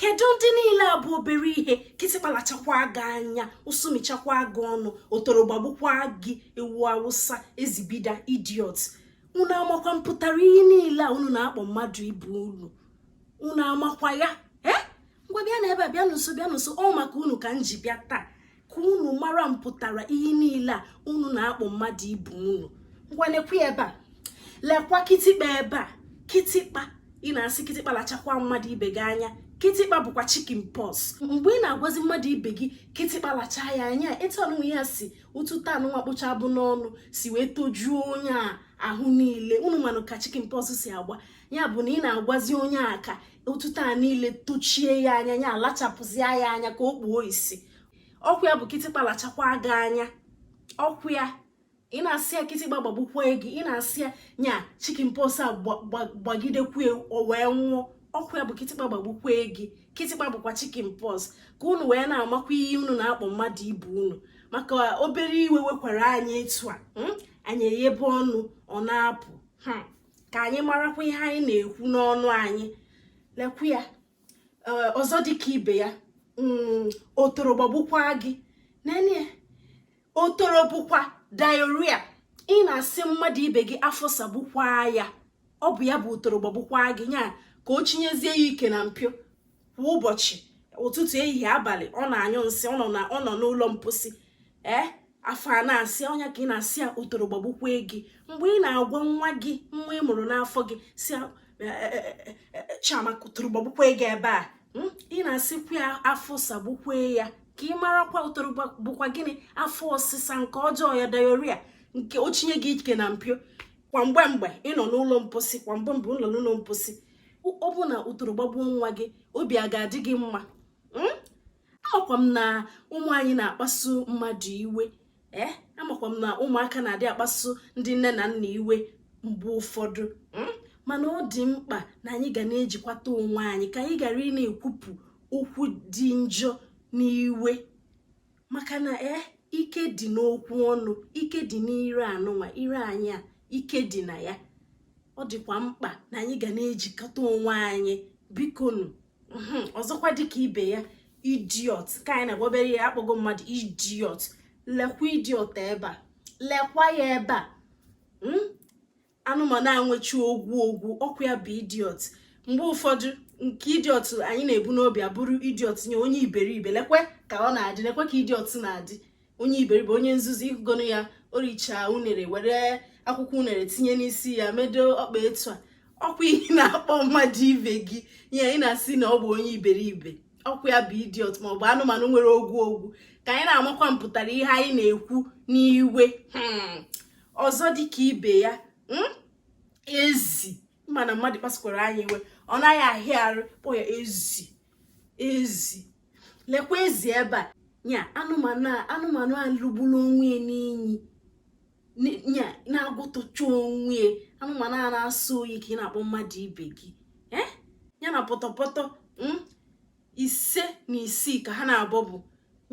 kedu ndị niile a bụ obere ihe kịtịkpa lachakwa gị anya ụsụ michakwa gị ọnụ otoro gbagbukwa gị ewu awụsa ezi bida idiot unu amakwa mpụtara ihe niile a unu na-akpọ mmadụ ibe unu unu amakwa ya ee eh? ngwa bịa na ebe a bịa nso bịa nso ọ maka unu ka m ji bịa taa ka unu mara mpụtara ihe niile a unu na-akpọ mmadụ ibe unu ngwa nekwe ebe a lekwa kịtịkpa ebe a kịtịkpa ị na-asị kịtịkpa lachakwa mmadụ ibe gị anya kịtịkpa bụkwa chicken pox mgbe ị na-agwazi mmadụ ibe gị kịtịkpa lacha ya anya etu ọnụnwa ya si otuto anụnwa kpụcha abụ n'ọnụ si wee tojuo onye a ahụ niile unu manụ ka chicken pox si agba ya bụ na ị na-agwazi onye a ka otuto a niile tochie ya anya ya alachapụzie ya anya ka o kpuo isi ọkwa ya bụ kịtịkpa lachakwa gị anya ọkwa ya ị na-asị ya kịtịkpa gbagbukwa gị ị na-asị ya nya chicken pox a gbagidekwa o wee nwụọ ọkwa ya bụ kịtịkpa gbagbukwa gị kịtịkpa bụkwa chicken pox ka unu wee na-amakwa ihe unu na-akpọ mmadụ ibe unu maka obere iwe wekwara anyị etu a hmm? anyị eyebe ọnụ ọ na-apụ hmm. ka anyị marakwa ihe anyị na-ekwu n'ọnụ anyị lekwu ya eh, ọzọ dịka ibe ya mm, otoro gbagbukwa gị nene otoro bụkwa diarrhea ị na-asị mmadụ ibe gị afọ sagbukwa ya ọ bụ ya bụ otoro gbagbukwa gị nya ka o chinyezie ya ike na mpio kwa ụbọchị ụtụtụ ehihie abalị ọ na-anyụ nsị ọ nọ n'ụlọ mposi ee eh? afọ a na-asa ya ọ nya ka ị na-asị ya otoro gbagbukwe gị mgbe ị na-agwa nwa gị nwa ị mụrụ n'afọ gị sị e, e, e, chiamaka otoro gbagbukwe gị ebe a hmm? ị na-asịkwa ya afọ sagbukwe ya ka ị marakwa otoro bụkwa gịnị afọ ọsịsa nke ọjọọ ya diarrhea nke o chinye gị ike na mpio kwa mgbe mgbe ị nọ n'ụlọ mposi kwa mgbe mgbe ị nọ n'ụlọ mposi ọ bụ na otoro gbagbuo nwa gị obi a ga-adị gị mma hmm? amakwa m na ụmụ anyị na-akpasu mmadụ iwe ee eh? amakwa m na ụmụaka na-adị akpasu ndị nne na nna iwe mgbe ụfọdụ hmm? mana ọ dị mkpa na anyị ga na-ejikwata onwe anyị ka anyị ghara ịna-ekwupụ okwu dị njọ n'iwe maka na e ike dị n'okwu ọnụ ike dị n'ire anụnwa ire anyị a ike dị na ya ọ dịkwa mkpa na anyị ga na-ejikwata onwe anyị bikonu hmm, ọzọkwa dịka ibe ya idiot ka anyị na-agwa obere ihe akpọgo mmadụ idiot lekwa idiot ebe a lekwa ya ebe a hmm? anụmanụ a nwechi ogwu ogwu ọkwa ya bụ idiot mgbe ụfọdụ nke idiot anyị na-ebu n'obi abụrụ idiot nye onye iberibe lekwe ka ọ na-adị lekwe ka idiot na-adị onye iberibe onye nzuzu ị hụgonụ ya o richa unere were akwụkwọ unere tinye n'isi ya medo ọkpa etu a ọkwa ihe ị na-akpọ mmadụ ibe gị ihe anyị na-asị na ọ bụ onye iberibe ọkwa ya bụ idiot ma ọ bụ anụmanụ nwere ogwu ogwu ka anyị na-amakwa mpụtara ihe anyị na-ekwu n'iwe hmm. ọzọ dịka ibe ya hmm? ezi mana mmadụ kpasukwara anyị iwe ọ naghị ahịa arụ kpọ ya ezi ezi lekwa ezi ebe a nya anụmanụ anụmanụ a lugburu onwe ya n'inyi nya na-agụtụcha onwe ya anụmanụ a na-asọ oyi ka ị na-akpọ mmadụ ibe gị eh? ya na pọtọpọtọ hmm? ise na isii ka ha naabọ bụ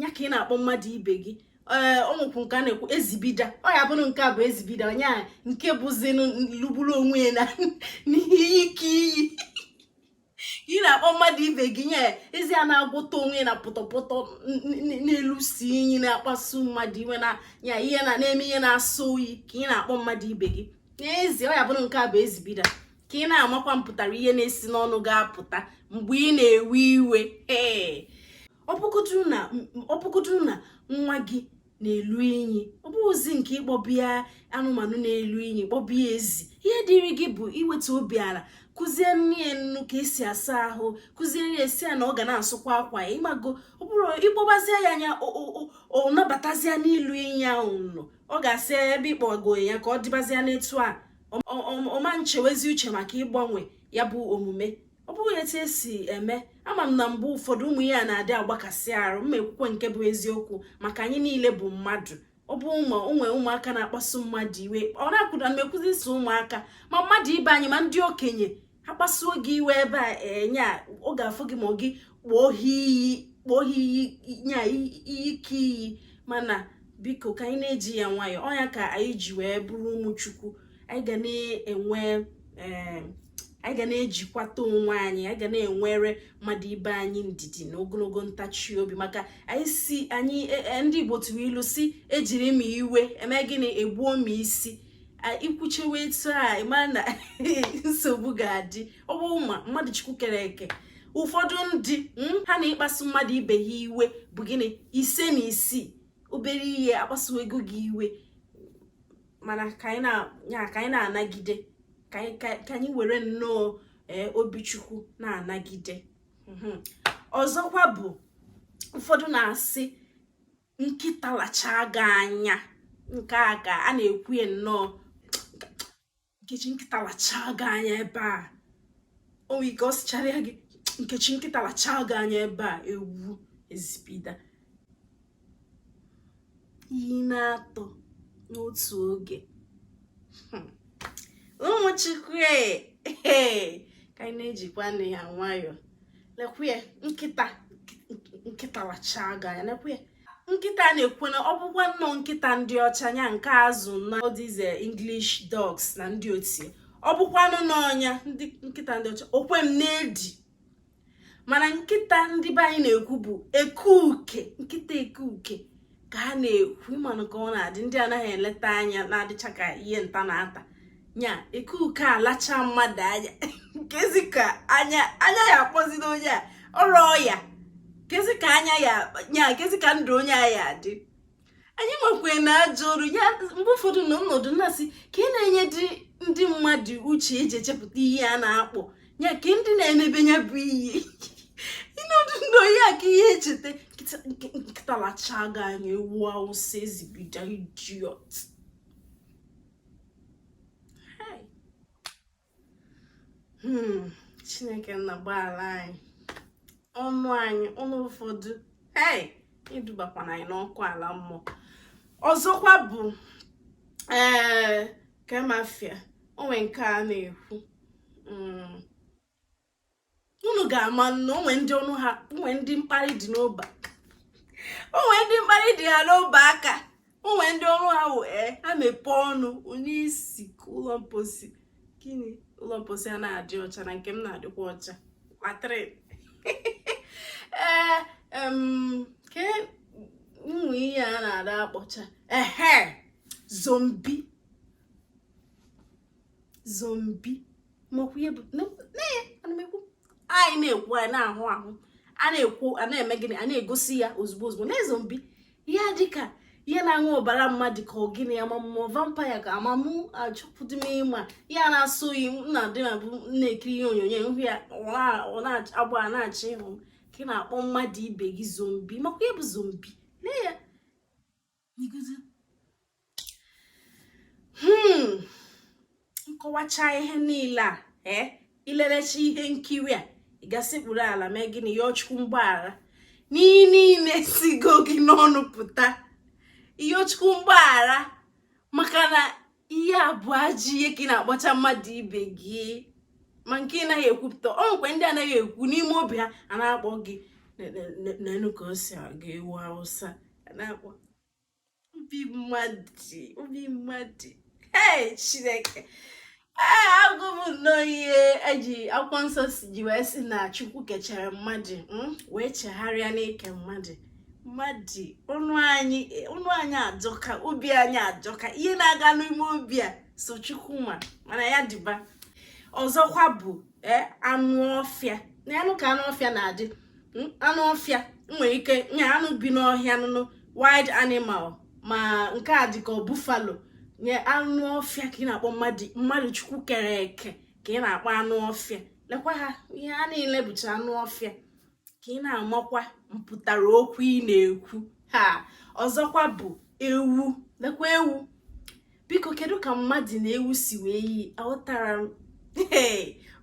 ya ka ị na-akpọ mmadụ ibe gị ee eh, o nwekwu nke a na-ekwu ezibida ọ ya bụrụ nke a bụ ezibida onye a nke bụzinụ lugburu onwe ya n'inyi ike inyi ka ị na-akpọ mmadụ ibe gị nya ezi a na-agwọta onwe na pọtọpọtọ na-elusi inyi na-akpasu mmadụ iwe na ya ihe na-eme ihe na-asọ oyi ka ị na-akpọ mmadụ ibe gị n'ezie ọ ya bụrụ nke a bụ ezibida ka ị na-amakwa mpụtara ihe na-esi n'ọnụ gị apụta mgbe ị na-ewe iwe ee ọ bụgodu na nwa gị na-elu inyi ọ bụghịzi nke ịkpọba ya anụmanụ na-elu inyi kpọba ya ezi ihe dịrị gị bụ iweta obi ala kụziere ya nnọọ ka esi asa ahụ kụziere ya sị ya na ọ ga na-asụkwa akwa ya ị mago ọ bụrụ ị kpọbazie ya nya ọ nabatazia n'ilu inyi ahụ na ọ ga-asị ebe ị kpọgo ya ka ọ dịbazia n'etu a ọ ma nchewezi uche maka ịgbanwe ya bụ omume ọ bụghị etu esi eme ama m na mgbe ụfọdụ ụmụ ya na-adị agbakasị arụ ma e kwukwe nke bụ eziokwu maka anyị niile bụ mmadụ ọ bụ ụmụ o nwe ụmụaka na-akpasu mmadụ iwe ọ na-akwụda na ekwuzi ụmụaka ma mmadụ ibe anyị ma ndị okenye ha kpasuo gị iwe ebe a nya eh, ọ ga-afụ gị ma gị kpọọ ha iyi kpọọ ha iyi nya ike iyi mana biko ka anyị na-eji ya nwayọọ ọ nya ka anyị ji wee bụrụ ụmụ chukwu anyị ga na-enwe eh, anyị ga na-ejikwata onwe anyị anyị ga na-enwere mmadụ ibe anyị ndidi na ogologo ntachi obi maka anyị sị anyị e, e, ndị Igbo tụrụ ilu sị e jiri mma iwe eme gịnị e gbuo mma isi i kwuchewe etu a ị ma na nsogbu ga-adị ọ bụ ma mmadụ chukwu kere eke ụfọdụ ndị hmm, ha na ịkpasu mmadụ ibe ha iwe bụ gịnị ise na isii obere ihe akpasuwego gị iwe mana ka anyị na-anagide ka anyị were nnọọ e, obi chukwu na-anagide hmm. ọzọkwa bụ ụfọdụ na-asị nkịta lachaa gị anya nke a ka a na-ekwu ya nnọọ nkechi nkịta lachaa gị anya ebe a o nwere ike ọ sịchara ya gị nkechi nkịta lachaa gị anya ebe a ewu ezi bida iyi naatọ n'otu oge hmm. ụmụ chukwu e, e, ka anyị na-ejikwanụ ya nwayọọ lekwe nkịta nkịta lachaa gị anya lekwe nkịta a na-ekwu na ọ bụkwa nnọọ nkịta ndị ọcha nya nke a zụ na these English dogs na ndị otie ọ bụkwanụ n'ọnya ndị nkịta ndị ọcha o kwe m na-edi mana nkịta ndị be anyị na-ekwu bụ ekuke nkịta ekuke ka a na-ekwu ị manụ ka ọ na-adị ndị anaghị eleta anya na-adịcha ka ihe nta na-ata nya ekuke alacha mmadụ anya kezi ka anya anya ya akpọzi onye a ọrụ ọya kezi ka anya ya nya kezi ka ndụ onye a ya adị anyị nwekwe na ajọ ọrụ ya mgbe ụfọdụ na m nọdụ na-asị ke ihe na-enyedị ndị mmadụ uche e ji echepụta ihe a na-akpọ ya ka ndị na-emebe ya bụ iyi ị nọdụ ndụ onye a ka ihe echeta nkịta lachaa gị anya ewu awụsa ezi bida idiot hmm, chineke nna gbaala anyị ọnụ anyị ọnụ ụfọdụ hey edubakwana anyị n'ọkụ ala mmụọ ọzọkwa bụ ee eh, kemafia o nwe nke a na-ekwu mm. unu ga-ama na o nwe ndị ọnụ ha o nwe ndị mkparị dị n'ọba o nwe ndị mkparị dị ha n'ọba aka o nwe ndị ọrụ ha wụ e ha mepee ọnụ ọ na-esi ụlọ mposi gịnị ụlọ mposi a na-adị ọcha na nke m na-adịkwa ọcha latrine ee eh, ke nwe ihe a na-ada akpọcha ehe zombie zombie makwa ihe bụ na ya ana m ekwu anyị na-ekwu anyị na-ahụ ahụ a na-ekwu a na-eme gịnị a na-egosi ya ozugbo ozugbo na zombie ya dịka ihe na-aṅụ ọbara mmadụ ka ọ gịnị ya ma mmụọ vampire ka amamụ achọpụdị m ịma ya na-asọ oyi na dị na bụ na-ekiri ihe onyonyo m hụ ya ọ na-agba na-achị ịhụ ka ị na-akpọ mmadụ ibe gị zombie makwa ihe bụ zombie lee ya n'iguzi hmm. m kọwacha ihe niile a ee eh, i lelecha ihe nkiri a ị ga-esekpuru ala mee gịnị yọọ chukwu mgbaghara n'ihe niile sigo gị n'ọnụ pụta yọọ chukwu mgbaghara maka na ihe a bụ ajọ ihe ka ị na-akpọcha mmadụ ibe gị ma nke ị naghị ekwupụta ọ nwekwa ndị anaghị ekwu n'ime obi ha a na-akpọ gị nenụ ka o si aga ewu awụsa a na-akpọ obi mmadụ obi mmadụ ee chineke ee ahụ m nnọọ ihe e ji akwụkwọ nsọ si ji wee sị na chukwu kechara mmadụ hmm, wee chegharịa n'ike mmadụ mmadụ ọnụ anyị ọnụ anyị ajọka obi anyị ajọka ihe na-aga n'ime obi a sọ chukwu ma mana ya dịba ọzọkwa bụ e, anụ ọfịa nenụ ka anụ ọfịa na-adị hmm, anụ ọfịa nwere ike nya anụ bi n'ọhịa nụnụ wild animal ma nke a dịka buffalo nya anụ ọfịa ka ị na-akpọ mmadụ mmadụ chukwu kere eke ka ị na-akpọ anụ ọfịa lekwa ha ihe a niile bụcha anụ ọfịa ka ị na-amakwa mpụtara okwu ị na-ekwu ha ọzọkwa bụ ewu lekwa ewu biko kedu ka mmadụ na ewu si wee yi aghọtara m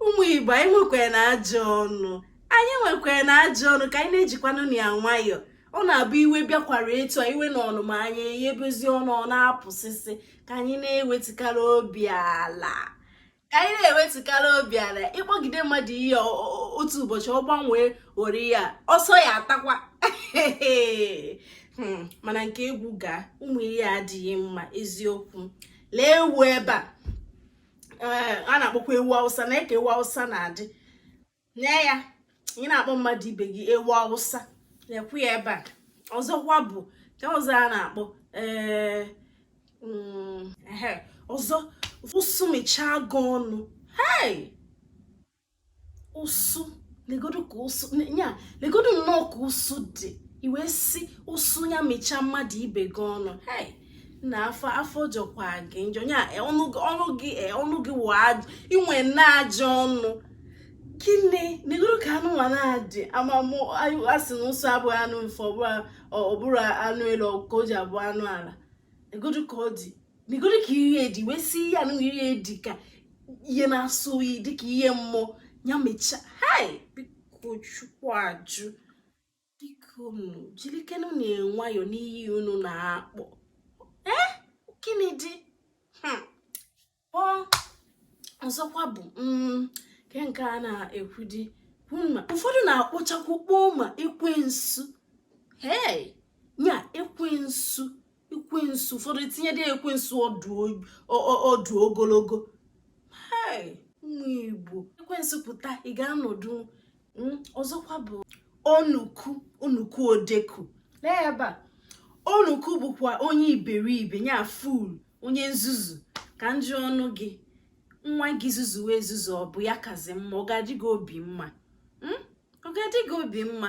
ụmụ igbo anyị nwekwara na ajọ ọnụ anyị nwekwara na ajọ ọnụ ka anyị na-ejikwanụ na ya nwayọọ ọ na-abụ iwe bịakwara etu a iwe na ọnụma anyị eyebezi ọnụ ọ na-apụsịsị ka anyị na-ewetukarị obi ala ka anyị na-ewetukarị obi ala ịkpọgide mmadụ ihe otu ụbọchị ọ gbanwee ori ya ọsọ ya atakwa hmm, mana nke egwu gaa ụmụ ihe a adịghị mma eziokwu lee ewu ebe a eh, a na-akpọkwa ewu awụsa nee ka ewu awụsa na-adị nee ya ị na-akpọ mmadụ ibe gị ewu awụsa nekwa ya ebe a ọzọkwa bụ nke ọzọ a na-akpọ ee mm, ọzọ ụsụ michaa gị ọnụ hei ụsụ negodu ka ụsụ ya negodu nnọọ ka ụsụ dị i wee sị ụsụ ya michaa mmadụ ibe gị ọnụ hei na afọ afọ jọkwa gị njọ ya e, ọnụ gị e, ọnụ gị i nwe na ajọ ọnụ gịnị negodu ka anụ nwa na-adị ama mụ a sị na ụsụ abụghị anụ ufe ọ bụrụ anụ elu ka o ji abụ anụ ala negodu ka ọ dị negodu ka ihe dị wee sị ihe anụ ihe dị ka ihe na-asọ oyi dịka ihe mmụọ ya michaa hai biko chukwu ajụ biko unu jirikenụ na nwayọ n'iyi unu na-akpọ ee eh? gịnị dị hmm. ọ ọzọkwa bụ mm, nke nke a na-ekwudi ma ụfọdụ na-akpọchakwu kpọọ ma ekwensu hei nya ekwensu ekwensu ụfọdụ etinyede ekwensu ọdụ ogologo ụmụ igbo ekwensu pụta ị ga-anọdụ hmm, ọzọkwa bụ onuku onuku odeku lee ebe a onuku bụkwa onye iberibe ya fool onye nzuzu ka m jụọnụ gị nwa gị zuzuwe ezuzu ọ bụ ya kazi mma ọ ga-adị gị obi mma hmm? ọ ga-adị gị obi mma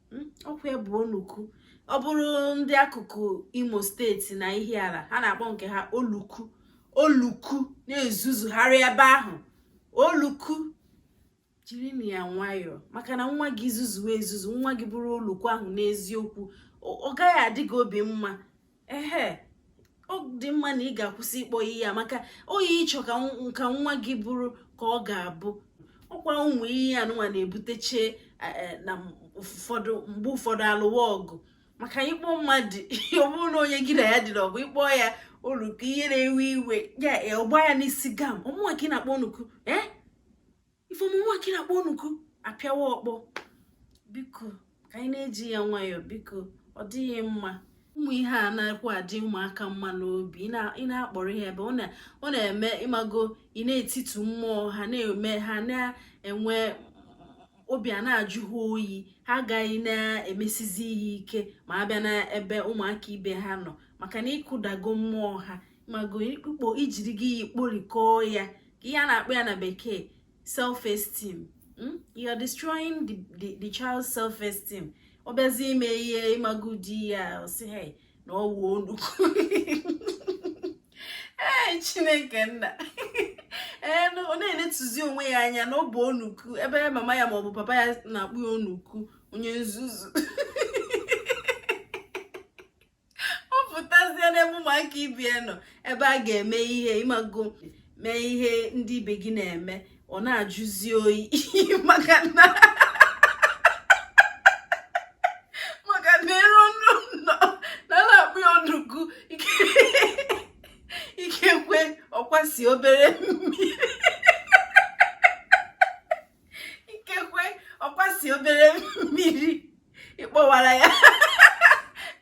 hmm, ọkwa ya bụ onuku ọ bụrụ ndị akụkụ imo steeti na ihiala ha na-akpọ nke ha oluku oluku na-ezuzugharị ebe ahụ oluku jirinụ ya nwayọọ maka na nwa gị zuzuwe ezuzu nwa gị bụrụ oluku ahụ n'eziokwu ọ gaghị adị gị obi mma ehe ọ dị mma na ị ga-akwụsị ịkpọ ihe a maka ọ ihe ị chọ ka nwa gị bụrụ ka ọ ga-abụ ọkwa ụmụ ihe anụnwa na-ebuteche e, e, na ụfọdụ mgbe ụfọdụ alụwa ọgụ maka ịkpọ mmadụ ọ bụrụ na onye gị na ya dị n'ọgụ ị kpọọ ya oluku ihe na-ewe iwe ya ọ gbaa ya n'isi gam ọ mụnwa ka ị na-akpọ onuku ee eh? ife ọ mụnwa ka ị na-akpọ onuku apịawa ọkpọ biko ka anyị na-eji ya nwayọọ biko ọ dịghị mma ụmụ ihe a na-ekwu adị ụmụaka mma n'obi ị na-akpọrọ ihe ebe ọ na-eme ịmago ị na-etitu mmụọ ha na-eme ha na-enwe obi ana-ajụ ha oyi ha agaghị na-emesizi ihe ike ma a bịa n'ebe ụmụaka ibe ha nọ maka na ị kụdago mmụọ ha ịmago ikpukpo ijiri gị ya ikporikọọ ya ihe a na-akpọ ya na bekee self esteem hmm? you are destroying the, the, the child's self esteem ọ bịazi ime ihe ịmago di ya ọ sị hey na ọ wụ onuku ee chineke nna ee ọ na-enetuzi onwe ya anya na ọ bụ onuku ebe mama ya maọbụ papa ya na-akpọ ya onuku onye nzuzu ọ pụtazie n'ebe ụmụaka ibe ya nọ ebe a ga-eme ihe ịmago mee ihe ndị ibe gị na-eme ọ na-ajụzi oyi maka na maka na e ruo n'ụnọ a na-akpọ ya onuku ikekwe ọ kwasị obere mmiri ikekwe ọ kwasị obere mmiri ị kpọwara ya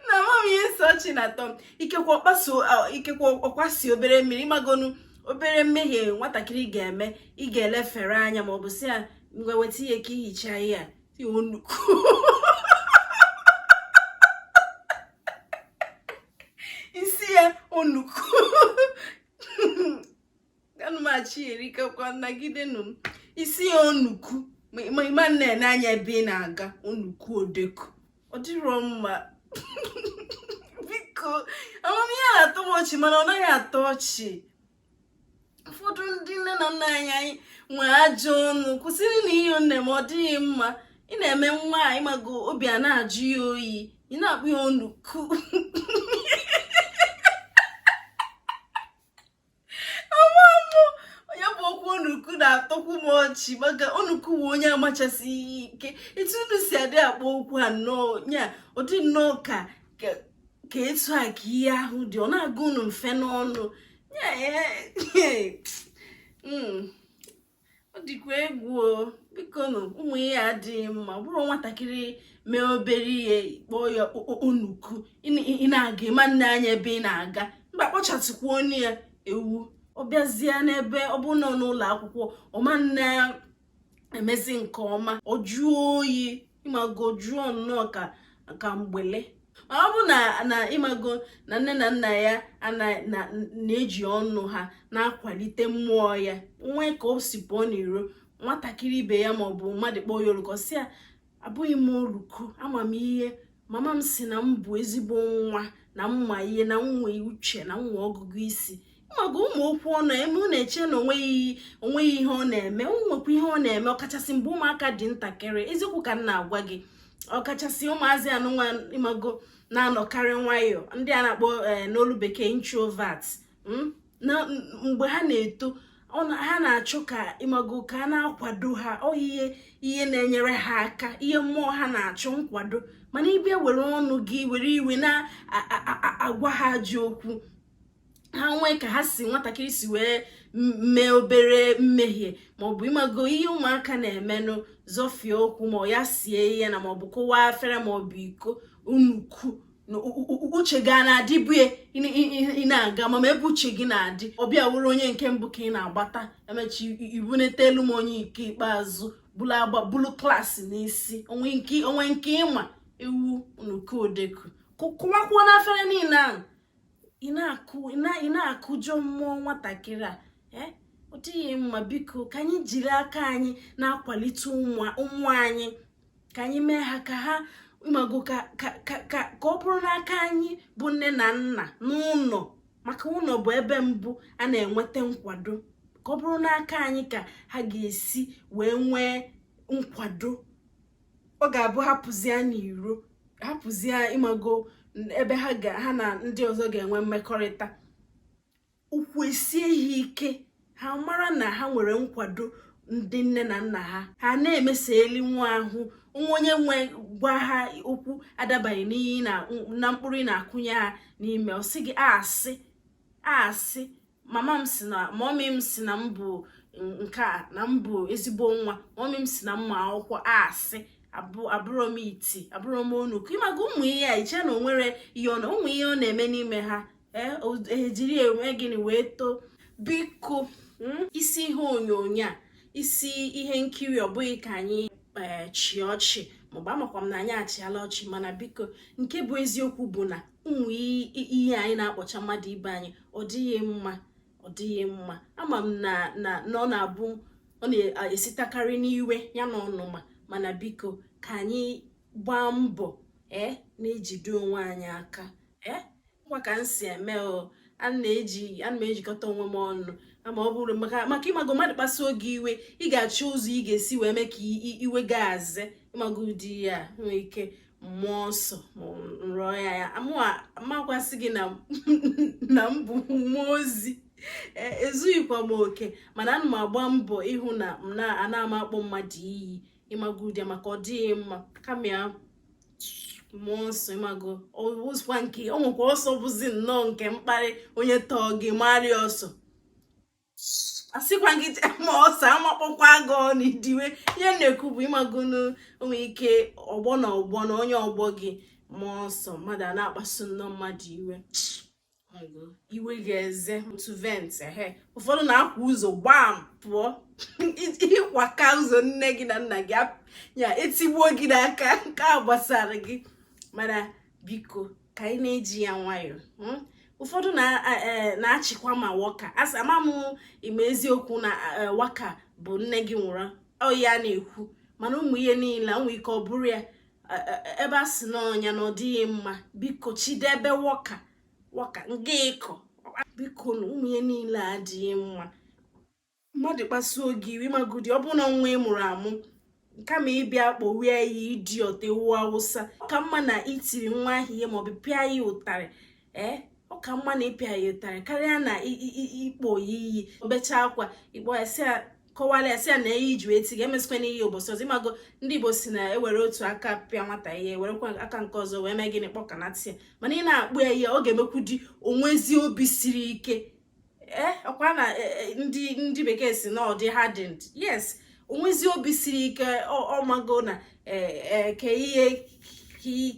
na mom ihe nsọ ọchị na-atọ m ikekwe ọ kpaso ikekwe ọ kwasị obere mmiri ịmagonụ obere mmehie nwatakịrị ga-eme ị ga-elefere anya ma ọ bụ sị ya ngwa weta ihe ka i hichaa ihe a ị wụ onuku ị sị ya onuku anụmachi erikakwa nagidenu m isi ya onuku ma ịma nee anya ebe ị na-aga onuku odeku ọ dịrọ mma biko ama m ihe na-atọ m ọchị mana ọ naghị atọ ọchị ụfọdụ ndị nne na nna anyị nwee ajọ ọnụ kwụsịrịnụ ya o nne m ọ dịghị mma ị na-eme nwa a ịmago obi a na-ajụ ya oyi ị na-akpọ ya onuku na-atọkwu m ọchị maka onuku a onye amachasị ike etu unu si adị akpọ okwu a nnọọ ya ọ dị nnọọ ka ka etu a ka ihe ahụ dị ọ na-aga unu mfe n'ọnụ ya hmm. ọ dịkwa egwu o bikonu ụmụ ihe a adịghị mma ọ bụrụ nwatakịrị mee obere ihe kpọọ ya onuku ị na-aga ịma nee anya ebe ị na-aga mgbe a kpọchatụkwanụ ya ewu ọ bịazie n'ebe ọ bụ nọ n'ụlọ akwụkwọ ọ ma na-emezi nke ọma ọ jụọ oyi ịmago jụọ nnọọ ka mgbele ma ọ bụ na ịmago na nne na nna ya na-eji ọnụ ha na-akwalite mmụọ ya nwee ka o si pụọ n'iro nwatakịrị ibe ya maọbụ mmadụ kpọọ ya onuku ọ sị ya abụghị m onuku ama m ihe mama m sị na m bụ ezigbo nwa na m ma ihe na m nwee uche na m nwee ọgụgụ isi ịmago ụmụ okwu ọnụ eme ọ na-eche na onweghị ihe ọ na-eme nwekwa ihe ọ na-eme ọkachasị mgbe ụmụaka dị ntakịrị eziokwu ka m na-agwa gị ọkachasị ụmụazị anụnwa ịmago na-anọkarị nwayọọ ndị a na-akpọ eh, n'olu bekee introvert hmm? mgbe ha na-eto ha na-achọ ka ịmago ka a na-akwado ha ọ ihe na-enyere ha aka ihe mmụọ ha na-achọ nkwado mana ịbịa were ọnụ gị were iwe na-agwa ha ajọ okwu ha nwee ka ha si nwatakịrị si wee mee obere mmehie maọbụ ịmago ihe ụmụaka na-emenụ zọfie ụkwụ ma ya sie ihe na maọbụ kụwaa afere maọbụ iko onuku uche gị na-adị ebe ị na-aga ma ebe uche gị na-adị ọ bịa wụrụ onye nke mbụ ka ị na-agbata emechie ibunetelu m onye nke ikpeazụ bulu klaasị n'isi o nwee nke ịma ewu onuku odeku kụwakwuonụ afere niile ahụ ị na-akụjọ mmụọ nwatakịrị a eh? ọ dịghị mma biko ka anyị jiri aka anyị na-akwalite ụmụ anyị ka anyị mee ha ka ha ịmago ka ọ bụrụ n'aka anyị bụ nne na nna n'ụlọ maka ụlọ bụ ebe mbụ a na-enweta nkwado ka ọ bụrụ n'aka anyị ka ha ga-esi wee nwee nkwado ọ ga-abụ ha pụzie n'iro ha pụzie ịmago ebe ha ga ha na ndị ọzọ ga-enwe mmekọrịta ụkwụ esie ha ike ha mara na ha nwere nkwado ndị nne na nna ha ha na-emesa eli nwa ahụ nwa onye wee gwa ha okwu adabanyeghị na mkpụrụ ị na-akụnye ha n'ime ọ sị gị asị asị mama m sị na mọmi m sị na m bụ nke a na m bụ ezigbo nwa mọmi m sị na m ma akwụkwọ asị abụrọ m iti abụrọ m onuku ịmago ụmụ ihe a i che na o nwere ihe ọ na ụmụ ihe ọ na-eme n'ime ha ejiri e, e eme gịnị wee too biko hmm, isi ihe onyonyo a isi ihe nkiri ọ bụghị ka anyị e, chịa ọchị maọbụ amakwa m na anyị achịala ọchị mana biko nke bụ eziokwu bụ na ụmụ ihe anyị na-akpọcha mmadụ ibe anyị ọ dịghị mma ọ dịghị mma ama m na na na ọ na-abụ ọ na-esitakarị n'iwe ya na ọnụma mana biko ka anyị gbaa mbọ ee eh, na-ejide onwe anyị aka ee eh, ngwa ka m si eme o ana m ejikọta onwe m ọnụ ama ọ bụrụ maka ịmago mmadụ kpasuo gị iwe ị ga-achọ ụzọ ị ga-esi wee mee ka iwe gị azị ịmago ụdị ya nwee ike ma ọsọ rụọ ya ya amakwasị gị na m bụ mmụọ ozi e, ezughịkwa m oke mana ana m agba mbọ ịhụ na m na-ana m akpọ mmadụ iyi ịmago ụdị maka ọ dịghị mma kama ya ma ọsọ ịmago ọwụzikwa nke o nwekwa ọsọ bụzi nnọọ nke mkparị onye tọọ gị marịa ọsọ asịkwa gị ma ọsọ amakpọkwa gị ọnụ idiwe ihe m na-ekwu bụ ịmago o nwee ike ọgbọ na ọgbọ na onye ọgbọ gị ma ọsọ mmadụ a na-akpasu nnọọ mmadụ iwe iwe ga-eze otu vent ehe ụfọdụ na-akwa ụzọ gbam pụọ ị kwaka ụzọ nne gị na nna gị ya etigbuo gị n'aka nke a gbasara gị mana biko ka anyị na-eji ya nwayọọ hmm? ụfọdụ e, na-achịkwa ma waka asị ama m ime eziokwu na e, waka bụ nne gị nwụrụ o ihe a na-ekwu mana ụmụ ihe niile nwee ike ọ bụrụ ya e, ebe a sị n'ọnya na ọ dịghị mma biko chịdebe waka waka nga ịkọ biko na ụmụ ihe niile adịghị mma mmadụ kpasuo gị iwe magodi ọ bụrụ na nwa ị mụrụ amụ kama ị bịa kpọwe ya idiot ewu awụsa ọ ka mma na i tiri nwa ahụ ihe maọbụ pịa ya ụtarị ee ọ ka mma na ị pịa ya ụtarị karịa na ịkpọ ya iyi o bechaa akwa ị kpọọ ya sị ya kọwara ya sị ya na ihe e ji wee tie gị emesịkwana ihe ụbọchị ọzọ ịmago ndị igbo sị na e were otu aka pịa nwata ihe werekwa aka nke ọzọ wee mee gịnị kpọkanatị ya mana ị na-akpọ ya iyi ọ ga-emekwudị o nwezie obi siri ike eh, ọkwa na eh, eh, ndị ndị bekee si na ọ dị hardened yes o nwezi obi siri ike ọ mago na ke ihe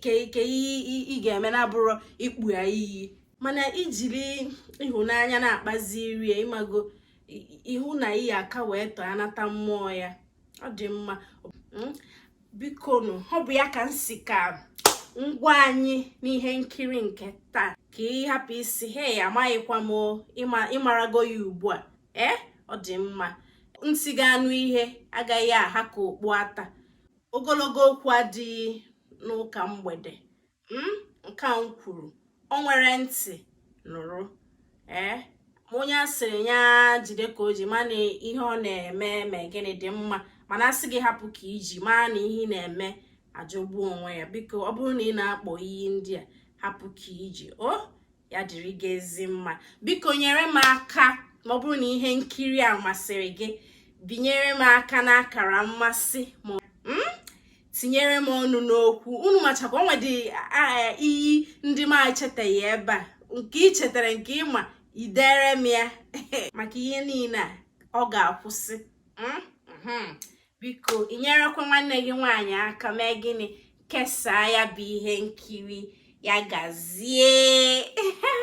ke ihe ị ga-eme na-abụrụ ịkpọ ya iyi mana i jiri ịhụnanya na-akpaziri ya ị mago ị hụ na iyi aka wee tọọ anata mmụọ ya ọ dị mma hmm? bikonu ọ bụ ya ka m si ka m gwa anyị n'ihe nkiri nke taa ka ị hapụ ịsị heya amaghịkwa m ị marago ya ugbu a ee eh, ọ dị mma ntị ga-anụ ihe agaghị aha ka okpu ata ogologo okwu adịghị n'ụka mgbede m hmm? nke a m kwuru o nwere ntị nụrụ ee eh? onye a sịrị ya jide ka o ji ma na ihe ọ na-eme mee gịnị dị mma mana a sị gị hapụ ka i ji maa na ihe ị na-eme ajọgbuo onwe ya biko ọ bụrụ na ị na-akpọ iyi ndị a hapụ ka i ji o oh? ya dịrị gị ezi mma biko nyere m aka ma ọ bụrụ na ihe nkiri a masịrị gị binyere m aka n'akara mmasị ma hmm? tinyere m ọnụ n'okwu unu machakwa o nwedị iyi ndị m echetaghị ebe a nke ị chetara nke ị ma i dere m ya maka ihe niile a ọ ga-akwụsị hmm? Hmm. biko i nyerekwa nwanne gị nwaanyị aka mee gịnị kesaa ya bụ ihe nkiri ya gazie